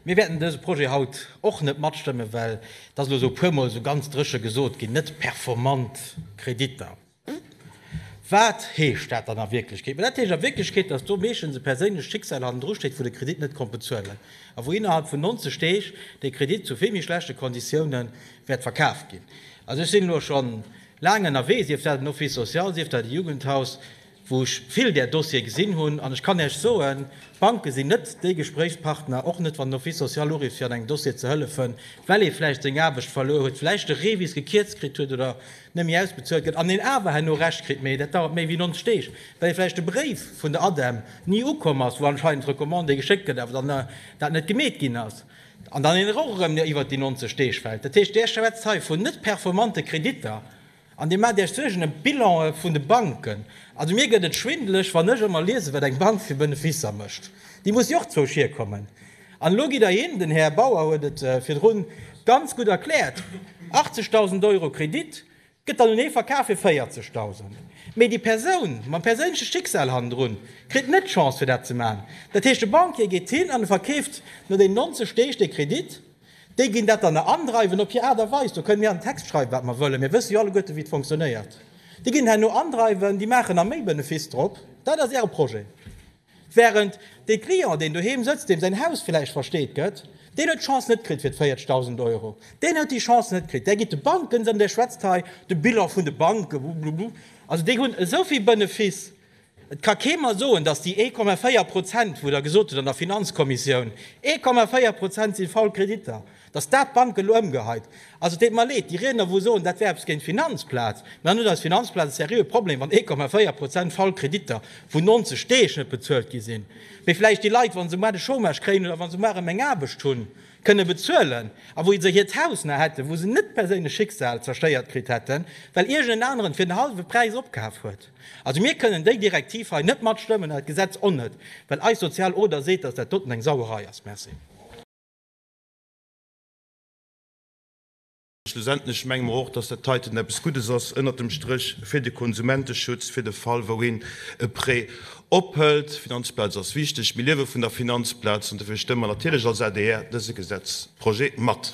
Mir wäerten dëse Projet haut och net matstëmmen, well, et ass elo esou e puer Mol esou ganz dréche gesot ginn, net performant Kreditter. Wat heescht dat dann a Wierklechkeet? Mä dat heescht a Wierklechkeet, dass do meeschtens e perséinlecht Schicksal hannendru steet vu de Kredit net konnt bezuelen a wou innerhalb vun 90 Deeg dee Kredit zu vill méi schlechte Konditioune wäert verkaf ginn. Also ech sinn elo scho laang ënnerwee, sief dat en Office social, sief dat e Jugendhaus, wou ech vill där Dossiere gesinn hunn, an ech kann Iech soen, d'Banke sinn net déi Gespréichspartner, och net wann den Office social uruff, fir an engem Dossier ze hëllefen, well ee vläicht seng Aarbecht verluer huet, vläicht de Revis gekierzt kritt huet oder nëmme ausbezuelt gëtt, an een awer herno Recht kritt, mee dat dauert méi wéi 90 Deeg, well ee vläicht de Bréif vun der ADEM ni ukomm ass, wou anscheinend d'Recommandé geschéckt gëtt, awer dann dat net gemeet ginn ass, an dann een och erëm iwwert déi 90 Deeg fält. Dat heescht, Dir schwätzt hei vun net performante Kreditter. An Dir maacht Iech Suergen ëm d'Bilanë vun de Banken. Also mir gëtt et schwindeleg, wann ech ëmmer liesen, wat eng Bank fir Beneficer mécht. Déi muss jo och zwousch hierkommen. An elo gitt Der hin, den Här Bauer huet et virdru ganz gutt erkläert, 80.000 Euro Kredit gëtt dann un ee verkaf fir 40.000. Mee déi Persoun mam perséinleche Schicksal hannendrun kritt net d'Chance, fir dat ze maachen. Dat heescht, de Banquier geet hin an e verkeeft no deenen 90 Deeg dee Kredit. Déi ginn dat dann nach andreiwen op hir Aart a Weis. Do kënne mir an den Text schreiwen, wat mer wëllen. Mir wësse jo alleguerten, wéi et fonctionnéiert. Déi ginn herno andreiwen, déi maachen nach méi Benefice drop. Dat ass Äre Projet. Wärend dee Client, deen doheem sëtzt, deem säin Haus vläicht versteet gëtt, deen huet d'Chance net kritt fir d'véiertegdausend Euro. Deen huet déi Chance net kritt. Där gitt de Banken se an Där schwätzt hei de Bilan vun de Banken, blublublu. Also déi hunn esou vill Benefice. Et ka kee mer soen, datt déi 1,4 Prozent, wou Der gesot hutt an der Finanzkommissioun, 1,4 Prozent si faul Kreditter, datt dat d'Bank elo ëmgeheit. Also et deet mer leed, déi Riedner, wou soen, dat wär eppes géint d'Finanzplaz. Mä dann huet eis Finanzplaz e seriöe Problem, wann 1,4 Prozent faul Kreditter vun 90 Deeg net bezuelt gi sinn. Mee vläicht déi Leit, wa se mar de Chômage kréien oder wa se mar erëm eng Aarbecht hunn, kënne bezuelen a wou se hiert Haus nach hätten, wou se net d'perséinlech Schicksal zerstéiert kritt hätten, well iergend en aneren fir den hallwe Präis opkaf huet. Also mir kënnen déi Direktiv hei net matstëmmen an dat Gesetz och net, well eis sozial Oder seet, dass dat doten eng Sauerei ass. Merci. Schlussendlech menge mer och, dass dat heiten eppes Guddes ass ënnert dem Stréch fir de Konsumenteschutz, fir de Fall, wou een e Prêt ophëlt. D'Finanzplaz ass wichteg. Mir liewe vun der Finanzplaz an dofir stëmme mer natierlech als adr dëse Gesetzprojet mat.